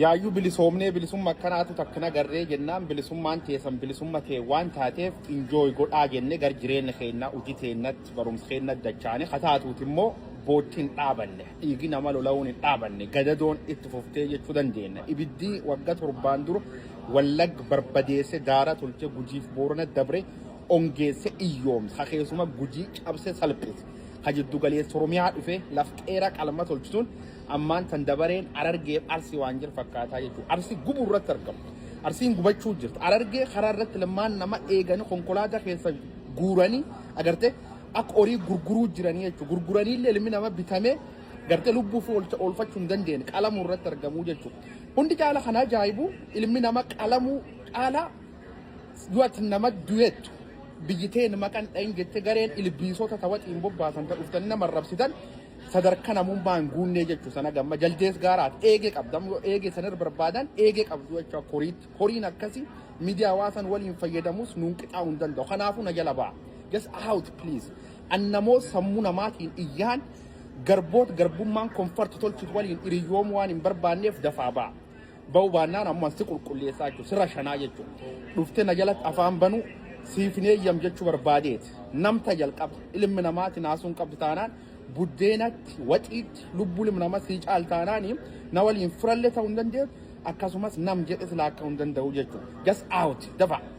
Yaayyuu bilisoomnee bilisumma akkanaatu takka nagarree jennaan bilisummaan teesan bilisumma tee waan taateef enjoy godhaa jenne gar jireenna keenna hujii teennatti barumsa keennatti dachaane ka taatuuti immoo bootti hin dhaabanne dhiigi nama lola'uun hin dhaabanne gadadoon itti fuftee jechuu dandeenna ibiddi wagga torbaan dura wallagg barbadeesse daara tolche gujiif boorana dabre ongeesse iyyoomse ka keessuma gujii cabse salphise ka jiddu galeessa oromiyaa dhufe laf qeera qalma tolchituun Ammaan tan dabareen Arargeef Arsi waan jir fakkaataa jechuudha. Arsi gubu irratti argamu. Arsiin gubachuu jirti. Arargee karaa irratti lammaan nama eeganii konkolaataa keessa guuranii agartee akka horii gurguruu jiranii jechuudha. Gurguranii illee ilmi nama bitamee gartee lubbuu fi oolfachuu hin dandeenye qalamuu irratti argamuu jechuudha. Hundi caala kana ajaa'ibu ilmi nama qalamuu caalaa du'atti nama du'eettu biyyi teen maqan dhayin jette gareen ilbiisota tawaxiin bobbaasan ta dhuftanii nama arrabsitan sadarka namummaa hin guunnee jechuu sana gamma jaldees gaaraati eegee qabdam yoo eegee sanar barbaadan eegee qabdu jechuu koriitti koriin akkasi miidiyaa hawaasan waliin fayyadamus nuun qixaa hin danda'u kanaafuu na jala ba'a just out please annamoo sammuu namaatiin iyyaan garboot garbummaan konfarti tolchuut waliin hiriyoomuu waan hin barbaanneef dafaa ba'a. Ba'uu baannaan ammas si qulqulleessaa jechuudha. Sirra shanaa jechuudha. Dhuftee na jalatti afaan banuu siif hin eeyyam jechuu barbaadeeti. Namta jalqaba ilmi namaati naasuun qabdu taanaan buddeenatti waxiitti lubbuu ilmi namaa sii caal taanaani na waliin firallee ta'uu hin dandeessu akkasumas nam jedhe silaa akka hin danda'u jechuudha. Gas out dafa.